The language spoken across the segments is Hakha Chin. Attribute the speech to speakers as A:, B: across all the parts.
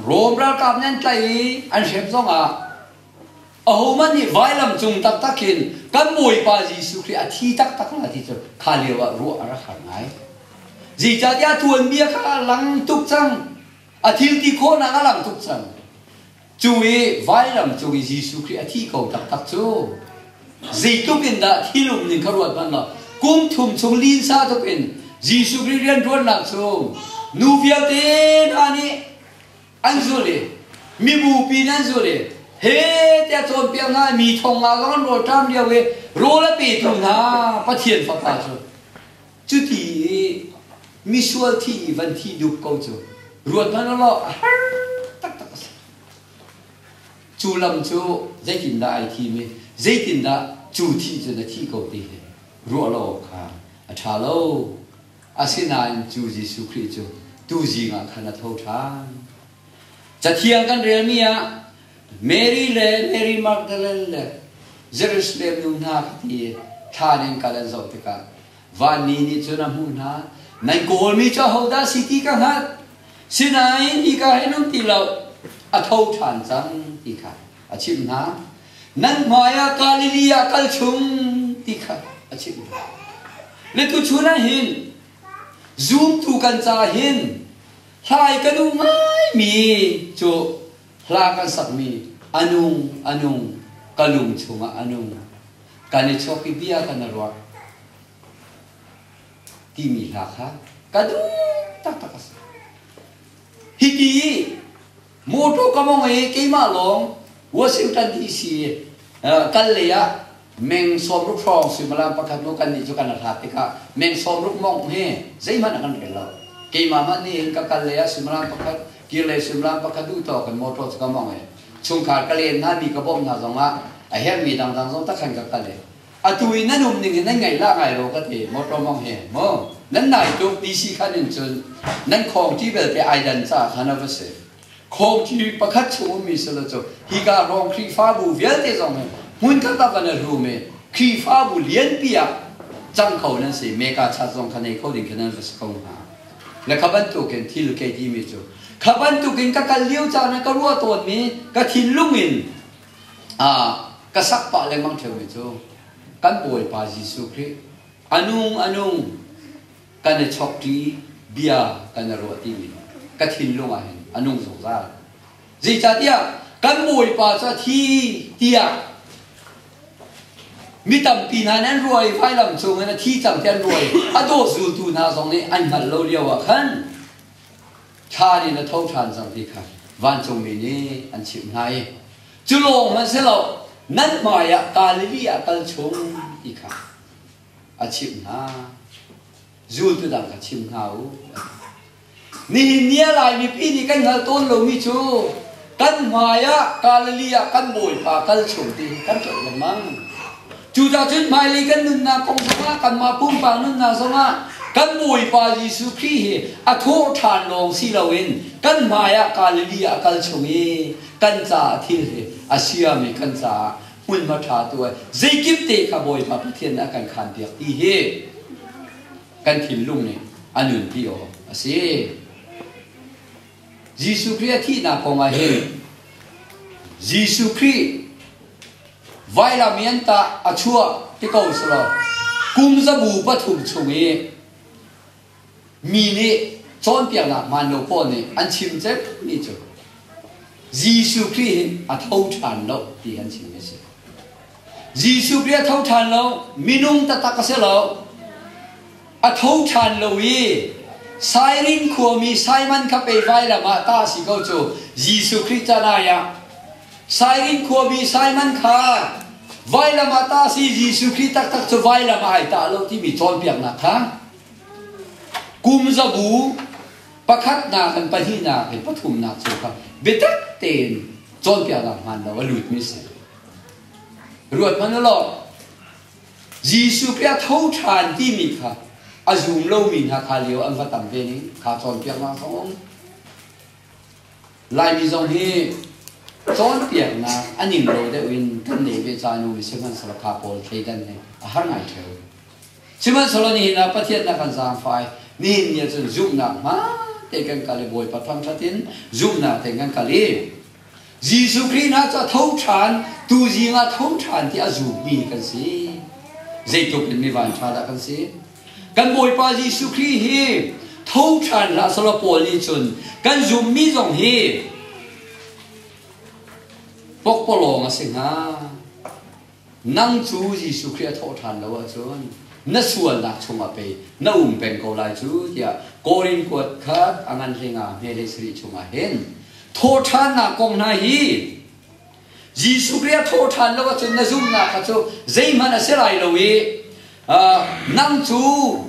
A: Rom ralkap nih an tlaih i an hrem zongah ahohmanh nih vailam cung taktak hin kan Bawipa Jesuh Khrih a thi taktak hna ti cu kha lio ah ruah a rak har ngai. Zeicahtiah a tuanbia kha a lang tuk cang. A thil ti khawhnak a lang tuk cang. Cu i vailam cung i Jesuh Khrih a thi ko taktak cu Zeitluk in dah thil umning kha ruat hmanh law kum thum chung linsa tuk in Jesuh Khrih rianṭuannak chung nu vialte hna nih an zul i mibupi nih an zul i he tiah cawnpiak hna mi thonga kha kan rawl ṭam lio i rawl a pe ṭung hna Pathian fapa cu cuti i misual thi i van thi dup ko cu ruat hmanh law a har taktak a si. Cu lam cu zeitindah ai thim i zeitindah cu thih cun a thih ko ti hi ruah lo awk kha a ṭha lo. Asinain cu Jesuh Khrih cu tuzing ah khan a tho ṭhan. Cathiang kan relmi ah Mary le Mary Magdalene le Jerusalem nu hna kha ti i thlan in kal an zoh tikah Vanni nih cun a hmuh hna, Nan kawlmi cu ahodah si ti ka hngalh, sinain hika hi nan ti lo, a tho ṭhan cang ti kha a chimh hna. Nan hmaiah Galilee ah kal chung ti kha a chimh hna. Le tuchun ah hin zumtu kan ca hin hlai ka duh ngaimi cu hla kan sakmi a nung a nung ka lung chungah a nung kan i chuahpi bia kan i ruah timi hla kha ka duh taktak a si hiti motor ka mong i keimah lawng Washington DC kal le ah meng sawm ruk hrawng suimalam pakhat nu kan nih cu kan hlat tikah meng sawm ruk mong he zeihmanh a kan rel lo keimah mah nih hin ka kal le ah suimalam pakhat kir le suimalam pakhat duh to kan motor cu ka mong i chungkhar ka len hngami ka bawmh hna zongah a herhmi dangdang zong takhan ka kal i atu i nan um ning in nan ngaih la ngai lo ka ti motor mong hi mu nan nai tluk ti si khan in cun nan khawng ti belte ai dan ca khan a va si khawng ti pakhat chung ummi silo cu hi ka rong khrihfabu vialte zong in hmun kal tak kan rum i khrihfabu lianpi ah cang kho nan si meka chat zong kha nei kho ding kha nan va si ko hna Na kha bantukin thil kei timi cu kha bantukin ka kal lio caan ah ka ruah tawnmi ka thinlung in ka sak pah lengmang ṭheumi cu kan Bawipa Jesuh Khrih anung anung kan i chokṭi bia kan i ruah timi ka thinlung ah hin a nung zungzal. Zeicahtiah kan Bawipa cu a thi tiah mi tampi hna nih an ruai vailam cung in a thi cang ti an ruai a daw zultu hna zong nih an hngalh lo lio ah khan thlan in a tho ṭhan cang ti kha vancungmi nih an chimh hna i cu lawng hmanh si lo nan hmai ah Galilee ah kal chung ti kha a chimh hna zultu dang kha chim hna u Nihin ni ah Lai mipi nih kan hngalh tawn lomi cu kan hmai ah Galilee ah kan Bawipa kal chung ti hi kan tlolh lengmang. Cucacun hmailei kan nunnak kong zongah kanmah pumpak nunnak zongah kan Bawipa Jesuh Khrih hi a thawh ṭhan lawng si loin kan hmai ah Galilee ah a kal chung i kan caah thil hi a siam i kan caah hmunhma ṭha tu ai zeikip te kha Bawipa Pathian nih a kan khaanpiak ti hi kan thinlung nih a nunpi awk a si. Jesuh Khrih a thihnak kong ah hin Jesuh Khrih vailam i an tah a chuah ti ko selaw kum zabu pathum chung i mi nih cawnpiaknak hmaan lo pawl nih an chim cemmi cu Jesuh Khrih hin a tho ṭhan lo ti an chim a si. Jesuh Khrih a tho ṭhan lo, minung taktak a si lo. A tho ṭhan lo i Sairin khuami Simon kha peivai lam ah tah a si ko cu Jesuh Khrih caan ai ah. Sairin khuami Simon kha vailam ah tah a si Jesuh Khrih taktak cu vailam ah ai tah lo timi cawnpiaknak kha kum zabu pakhatnak in pahnihnak in pathumnak cu kha biatak tein cawnpiaknak hmaan lo a lutmi a si. Ruat hmanh u law Jesuh Khrih a tho ṭhan timi kha a zum lomi hna kha lio an va tam ve ning kha cawnpiaknak zong um Laimi zong hi cawnpiaknak a ning lo deuh in kan nei ve caan um sihmanhsehlaw kha pawl thleidan hi a har ngai ṭheu sihmanhsehlaw nihin ah pathiannak kan zaangfai nihin ni ahcun zumhnak hma te kan kal i Bawipa thangṭhat in zumhnak te kan kal i Jesuh Khrih hna cu a tho ṭhan, tuzing ah a tho ṭhan ti a zummi kan si. Zeitluk in mi vanṭha dah kan si! Kan Bawipa Jesuh Khrih hi tho ṭhan hlah selaw Paul nih cun kan zummi zong hi pokpalawng a si hnga. Nang cu Jesuh Khrih a thawh ṭhan lo ahcun na sualnak chungah pei na um peng ko lai cu tiah Korin kuat kha a ngan hle nga hmelei sarih chungah hin thawhṭhannak kong hna hi Jesuh Khrih a thaw ṭhan lo ahcun na zumhnak kha cu zeihmanh a si lai lo i nang cu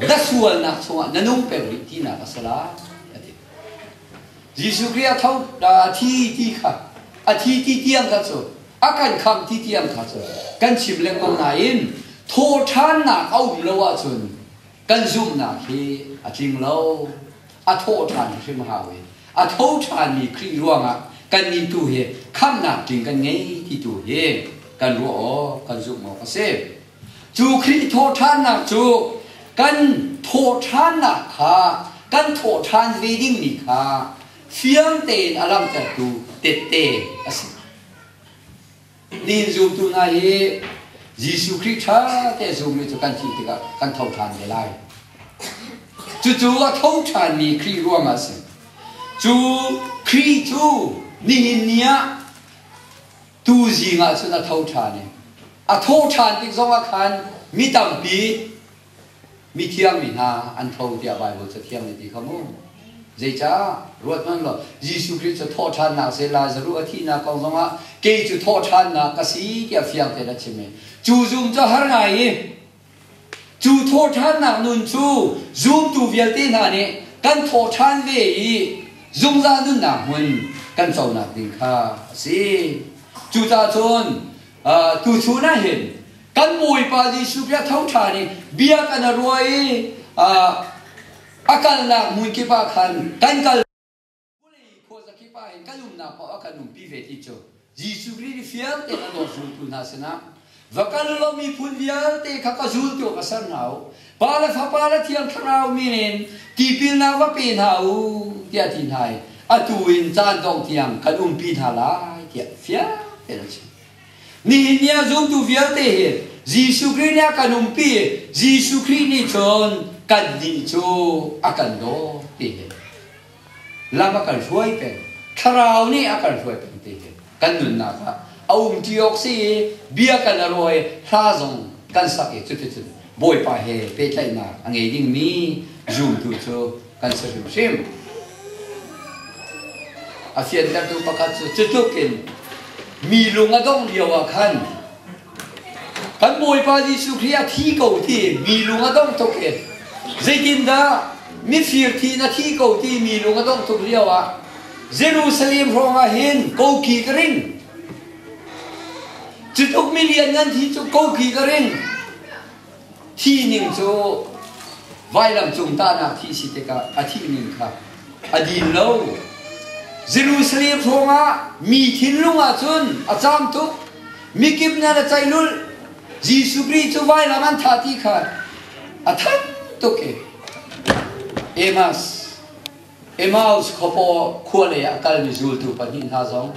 A: na sualnak chungah na nung peng rih tinak a si lai, a ti. Jesuh Khrih a tho a thi ti kha a thi ti tiang kha cu a kan khamh ti tiang kha cu kan chim lengmang nain thawhṭhannak a um lo ahcun kan zumhnak hi a tling lo. A thawh ṭhan hrim hau i a tho ṭhanmi Khrih ruangah kannih tu hi khamhnak tling kan ngei ti tu hi kan ruah awk, kan zumh awk a si. Cu Khrih thawhṭhannak cu kan thawhṭhannak kha kan thawhṭhan ve dingmi kha fiang tein a langhtertu tette a si. Nihin zumtu hna hi Jesuh Khrih ṭha te zummi cu kan thih tikah kan tho ṭhan ve lai. Cucu a tho ṭhanmi Khrih ruangah a si. Cu Khrih cu nihin ni ah Tu zing ah cun a tho ṭhan i a tho ṭhan tik zongah khan mi tampi mithiangmi hna an tho tiah Baibal cathiang nih ti kha mu. Zeicah? Ruathmanh law Jesuh Khrih cu thawh ṭhannak seh Lazaruh a thihnak kong zongah kei cu thawh ṭhannak ka si tiah fiang tein a chim i cu zum cu har ngai i Cu thawhṭhannak nun cu zumtu vialte hna nih kan thawhṭhan ve i zungzal nunnak hmun kan conak ding kha a si. Cucacun tuchun ah hin kan Bawipa Jesuh Khrih a thoṭhan i bia kan i ruah i a kalnak hmun kip ah khan kan kal Khuazakip ah hin kan umnak paoh ah kan umpi ve ti cu Jesuh Khrih nih fiarte a dawt zultu hna sinah va kal u law miphun vialte kha ka zul ti awk ka ser hna u Pa le Fapa le Thiang Thlarau min in tipilnak va pe hna u tiah ti hna i atu in caan dong tiang kan umpi hna lai tiah fiarte an chim nihin ni ah zultu vialte hi Jesuh Khrih nih a kan umpi i Jesuh Khrih nih cun kan nih cu a kan dawt te hi lam a kal hruai peng thlarau nih a kal hruai peng te hi kan nunnak ah a um ṭi awk si i bia kan a ruai hla zong kan sak i cuticun bawipa he pehtlaihnak a ngei dingmi zumtu cu kan si hrimhrim a fiantertu pakhat cu cutluk in mi lung a dongh lio ah khan Kan Bawipa Jesuh Khrih a thi ko ti mi lung a dong tuk hi zeitindah mifir thi in a thi ko ti mi lung a dong tuk lio ah Jerusalem hrawngah hin koki ka ring cutluk mi lianngan thi cu koki ka ring Hi ning cu vailam cung tahnak thih si tikah a thihning kha a din lo. Jerusalem hrawngah mi thinlung ah cun a caam tuk. Mikip nih an a ceilulh. Jesuh Khrih cu vailam an thah ti kha a thanh tuk i Emmaus Emmaus khuapaw khua lei ah a kalmi zultu pahnih hna zong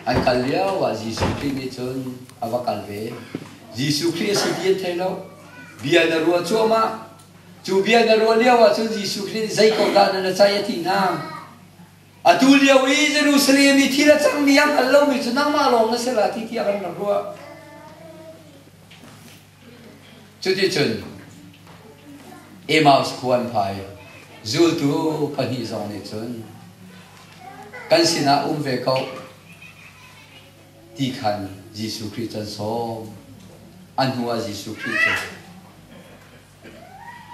A: an kal lio ah Jesuh Khrih nih cun a va kal ve. Jesuh Khrih a si ti an thei lo. Bia na ruah cuahmah. Cu bia na ruah lio ah cun Jesuh Khrih nih zei ko dah nan a caih a ti hna. Atu lio i Jerusalem i thil a cangmi a hngal lomi cu nangmah lawng na si la ti tiah kan rak ruah. Cuticun Emmaus khua an phai. Zultu pahnih zong nih cun kan sinah um ve ko ti khan Jesuh Khrih cu an sawm. A hnuah Jesuh Khrih cu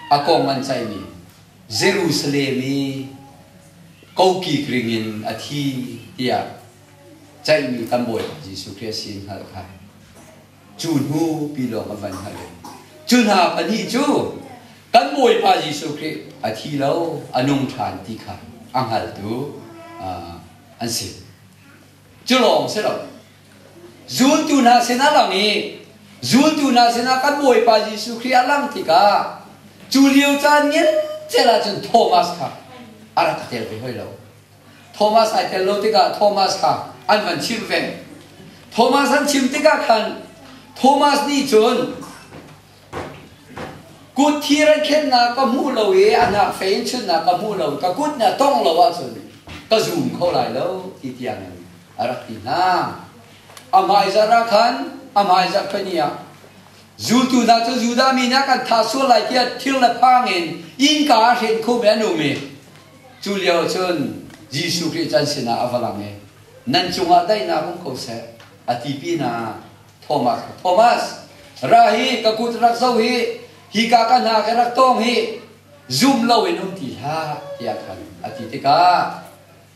A: a kong an caihmi Jerusalem i kokik ring in a thi tiah caihmi kan Bawipa Jesuh Khrih a si in hngalh kha Cu hnu pi lawng a van hngalh i cu hna pahnih cu kan Bawipa Jesuh Khrih a thi lo, a nung ṭhan ti kha a hngaltu an si. Cu lawng si lo, zultu hna sinah lang i zultu hna sinah kan Bawipa Jesuh Khrih a lang tikah cu lio caan ngial cel ahcun Thomas kha a rak tel ve hoi lo. Thomas ai tel lo tikah Thomas kha an van chimh ve. Thomas an chim tikah khan Thomas nih cun kut thi ran khennak ka hmuh lo i a hnak fei in chunnak ka hmuh lo ka kut na tongh lo ahcun ka zum kho lai lo ti tiangin a rak ti hna. A hmaizarh ah khan a hmaizarh fani ah zultu hna cu Judah mi nih kan thah sual lai tiah thil le phang in innka ah hrin khum in an um i Cu lio cun Jesuh Khrih can sinah a va lang i, Nan cungah daihnak um ko seh, a ti pinah Thomas kha, Thomas, ra hi, ka kut rak zoh hi, hika ka hnak i rak tawng hi, zum loin um ti hlah, tiah khan a ti tikah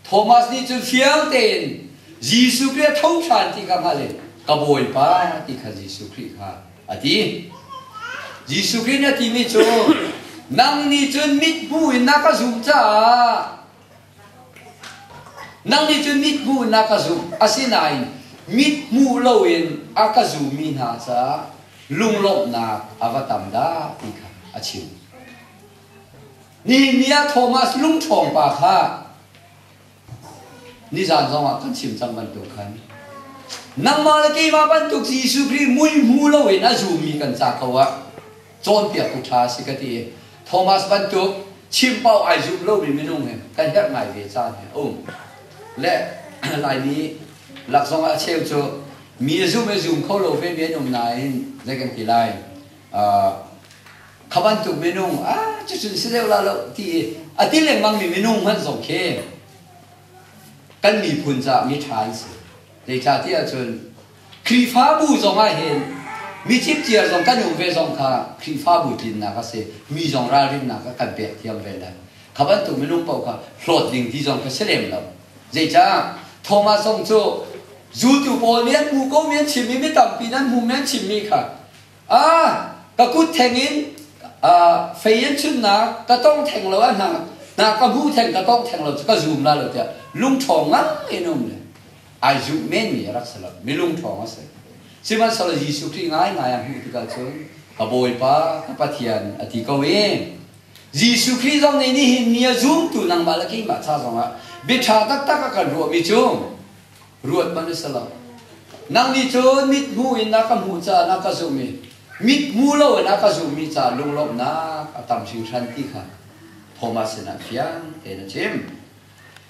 A: Thomas nih cun fiang tein Jesuh Khrih a tho ṭhan ti kha hngalh in, Ka Bawipa, ti khan Jesuh Khrih kha a ti. Jesuh Khrih nih a timi cu, nang nih cun mithmuh in na ka zum caah nang nih cun mithmuh in na ka zum. Asinain mithmuh loin a ka zummi hna caah lunglawmhnak a va tam dah ti kha a chim. Nehemiah Thomas lungṭhawng pa kha Nizan zongah kan chim cang bantuk khan nangmah le keimah bantuk Jesuh Khrih muihmu loin a zummi kan ca ko ah cawnpiaktu ṭha si ka ti. Thomas bantuk chimpau ai zumh lomi minung hi kan herh ngai ve caan hi a um. Le Laimi lak zongah a cheu cu mi a zum i zum kho lo vemi an um nain zei kan ti lai. Uh, kha bantuk minung ah cucun si deuh la lo ti i a ti lengmangmi minung hmanh zong khi kan miphun caah miṭha an si zeicahtiah cun Khrihfabu zong ah hin mi cipciar zong kan um ve zong kha Khrihfabu tlinnak a si mi zong ralrinnak a kan pek thiam ve lai kha bantuk minung paoh kha hlawt ding ti zong kha si lem lo zeicah Thomasong cu zultu pawl nih an hmu ko mi an chimmi mi tampi nan hmu mi an chimmi kha ka kut thengin fei an chunnak ka tong theng lo ah na ka hmu theng ka tong theng lo cu ka zum la lo tiah lungṭhawng ngai in um le ai zumh menmi a rak si lo mi lungṭhawng a si sihmanhsehlaw Jesuh Khrih ngaingai a hmuh tikah cun ka Bawipa ka Pathian a ti ko i Jesuh Khrih zong nih nihin ni a zumtu nangmah le keimah ca zongah biaṭha taktak a kan ruahmi cu ruat hmanh a si lo. Nang nih cun mithmuh in na ka hmuh caah na ka zumh i mithmuh loin a ka zumhmi caah lunglawmhnak a tam hringhran ti kha Thomas sinah fiang tein a chim.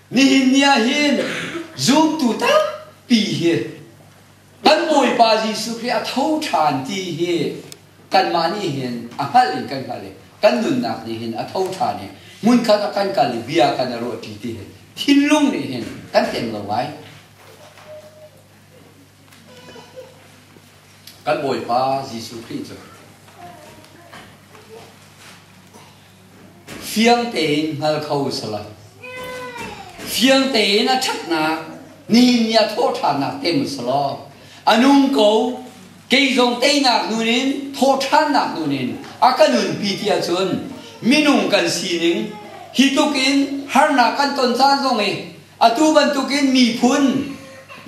A: Nihin ni ah hin zumtu tampi hi Kan Bawipa Jesuh Khrih a tho ṭhan ti hi kanmah nih hin a hngalh in kan hngalh i kan nunnak nih hin a tho ṭhan i hmunkhat a kan kal i bia kan i ruahṭi ti hi thinlung nih hin kan tleng lo ngai. Kan Bawipa Jesuh Khrih cu Fiang tein hngal kho si lai. Fiang tein a ṭhatnak ni ni a thawhṭhannak te mu si law a nung ko kei zong teinak nun in thawhṭhannak nun in a ka nunpi ti ahcun minung kan sining hi tluk in harnak kan ton caan zong i atu bantukin miphun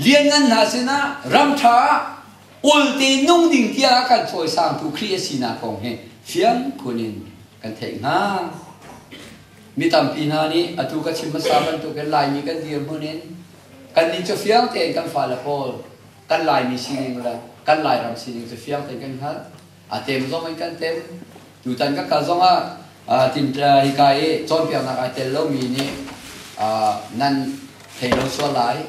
A: lianngan hna sinah ram ṭha ah ulte nung ding tiah kan cawisangtu Khrih a sinak kong hi fiang phun in kan theih hna. Mi tampi hna nih atu ka chim hmasa bantukin Laimi kan dirhmun in kannih cu fiang tein kan fale pawl kan Laimi sining le kan Lairam sining cu fiang tein kan hngalh. A tem zong in kan tem. Tutan ka kal zong ah hika i cawnpiaknak ai tel lomi nih nan thei lo sual lai.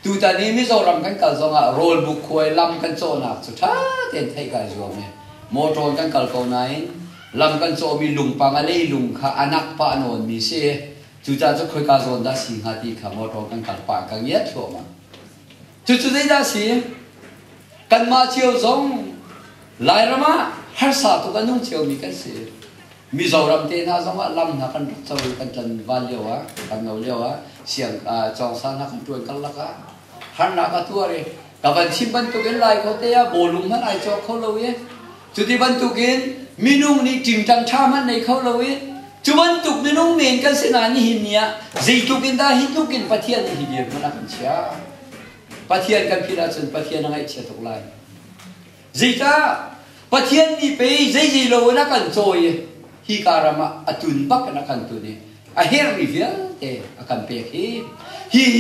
A: Tutan i Mizoram kan kal zongah rawlbuk khuai lam kan cawhnak cu ṭha tein theih kai zuam i motor in kan kal ko nain lam kan cawhmi lungpang a leilung kha a nak pa a nawnmi si i cucaah cu khoika zawn dah si hnga ti kha motor kan kal pah in kan ngiat thluahmah. Cucu zeidah a si? Kanmah cio zong Lairam ah harsa tuk a nung ciomi kan si. Mizoram te hna zongah lam hna kan rak co i kan tlan van lio ah, kan no lio ah, siang ah, cawngsa hna kan tuan karlak ah, harnak a tuar i, ka van chim bantukin lai ko te ah bawlung hmanh ai cawk kho lo i, cuti bantukin minung nih tingtang tha hmanh nei kho lo i, cu bantuk minung men kan si na nihin ni ah, zeitluk in dah hi tluk in Pathian nih hi bia hmanh a kan chia. Pathian kan philh ahcun Pathian a ngaihchia tuk lai. Zeicah? Pathian mi pei zei zei lo in a kan cawi i hika ram ah a tun bak in a kan tun i a herhmi vialte a kan pek hi hi